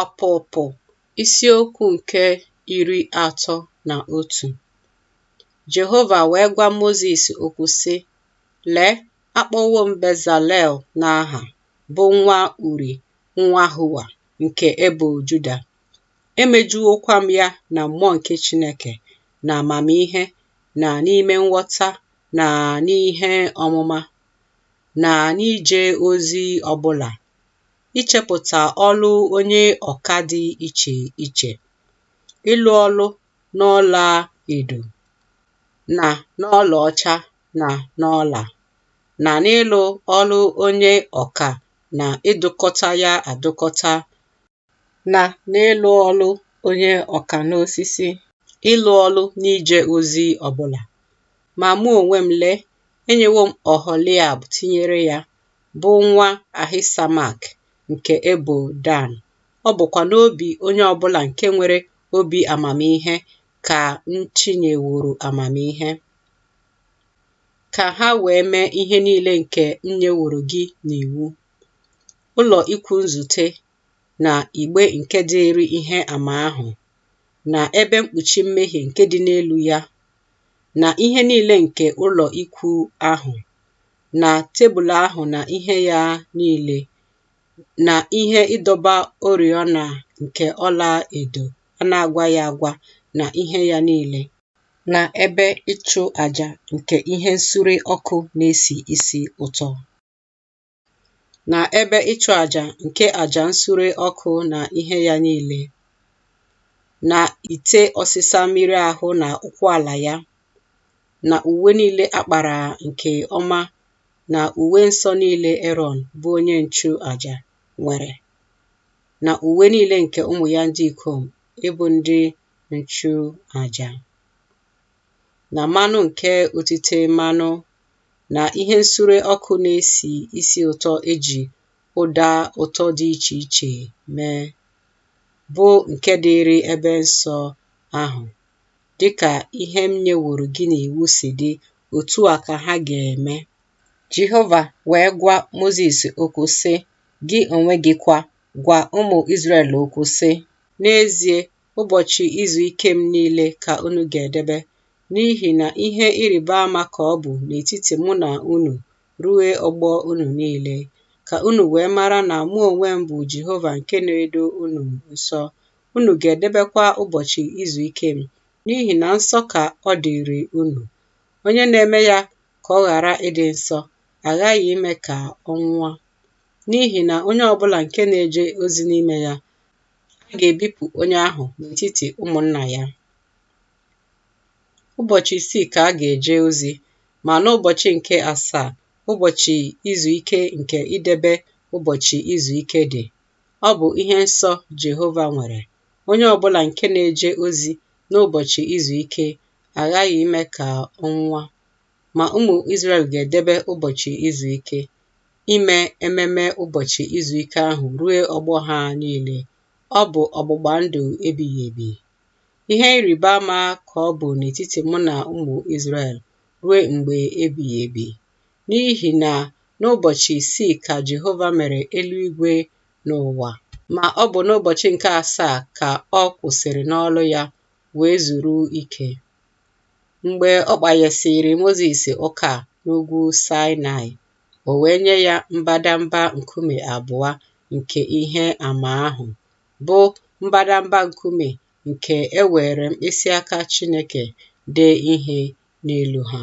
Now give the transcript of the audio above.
Ọpụpụ isiokwu nke iri atọ na otu Jehova wee gwa Mozis okwu sị, Lee, akpọwo m Bezalel n'aha, bụ nwa Uri, nwa Hua nke ebo Juda. Emejuwokwa m ya na mmụọ nke Chineke, n'amamihe, na n'ime nghọta, na n'ihe ọmụma, na n'ije ozi ọbụla ichepụta ọlụ onye ọka dị iche iche, ịlụ ọlụ n'ọla edo na n'ọla ọcha na n'ọla na n'ịlụ ọlụ onye ọka na ịdụkọta ya adụkọta na n'ịlụ ọlụ onye ọka n'osisi, ịlụ ọlụ n'ije ozi ọbụla. Ma mụ onwe m, lee, enyewo m Oholiab tinyere ya, bụ nwa Ahisamak nke ebo Dan. Ọ bụkwa n'obi onye ọ bụla nke nwere obi amamihe ka m tinyeworo amamihe, ka ha wee mee ihe niile nke m nyeworo gị n'iwu, ụlọ ikwu nzute na igbe nke dịịrị ihe ama ahụ, na ebe mkpuchi mmehie nke dị n'elu ya, na ihe niile nke ụlọ ikwu ahụ, na tebụl ahụ na ihe ya niile, na ihe ịdọba oriọna nke ọla edo a na-agwaghị agwa na ihe ya niile, na ebe ịchụ aja nke ihe nsure ọkụ na-esi isi ụtọ, na ebe ịchụ aja nke aja nsure ọkụ na ihe ya niile, na ite ọsịsa mmiri ahụ na ụkwụ ala ya, na uwe niile a kpara nke ọma na uwe nsọ niile Erọn bụ onye nchụaja nwere na uwe niile nke ụmụ ya ndị ikom ịbụ ndị nchụaja na mmanụ nke otite mmanụ na ihe nsure ọkụ na-esi isi ụtọ e ji ụda ụtọ dị iche iche mee bụ nke dịịrị ebe nsọ ahụ Dị ka ihe m nyeworo gị n'iwu si dị, otu a ka ha ga-eme. Jehova wee gwa Mozis okwu, sị, Gị onwe gị kwa, gwa ụmụ Izrel okwu, sị, N'ezie, ụbọchị izu ike m niile ka unu ga-edebe, n'ihi na ihe ịrịba ama ka ọ bụ n'etiti mụ na unu ruo ọgbọ unu niile, ka unu wee mara na mụ onwe m bụ Jehova nke na-edo unu nsọ, unu ga-edebekwa ụbọchị izu ike m, n'ihi na nsọ ka ọ dịrị unu. Onye na-eme ya ka ọ ghara ịdị nsọ, a ghaghị ime ka ọ nwụọ. N'ihi na onye ọ bụla nke na-eje ozi n'ime ya, a ga-ebipụ onye ahụ n'etiti ụmụnna ya. Ụbọchị isii ka a ga-eje ozi, ma n'ụbọchị nke asaa, ụbọchị izu ike nke idebe ụbọchị izu ike dị, Ọ bụ ihe nsọ Jehova nwere. Onye ọ bụla nke na-eje ozi n'ụbọchị izu ike a ghaghị ime ka ọ nwụọ. Ma ụmụ Izrel ga-edebe ụbọchị izu ike, ime ememe ụbọchị izu ike ahụ ruo ọgbọ ha niile. Ọ bụ ọgbụgba ndụ ebighị ebi. Ihe ịrịba ama ka ọ bụ n'etiti mụ na ụmụ Izrel ruo mgbe ebighị ebi. N'ihi na n'ụbọchị isii ka Jehova mere eluigwe na ụwa, ma ọ bụ n'ụbọchị nke asaa ka ọ kwụsịrị n'ọlụ ya wee zuru ike. Mgbe ọ kpanyesịrị Mozis ụka n'ugwu Saịnaị, o wee nye ya mbadamba nkume abụọ nke ihe ama ahụ, bụ mbadamba nkume nke e weere mkpịsị aka Chineke dee ihe n'elu ha.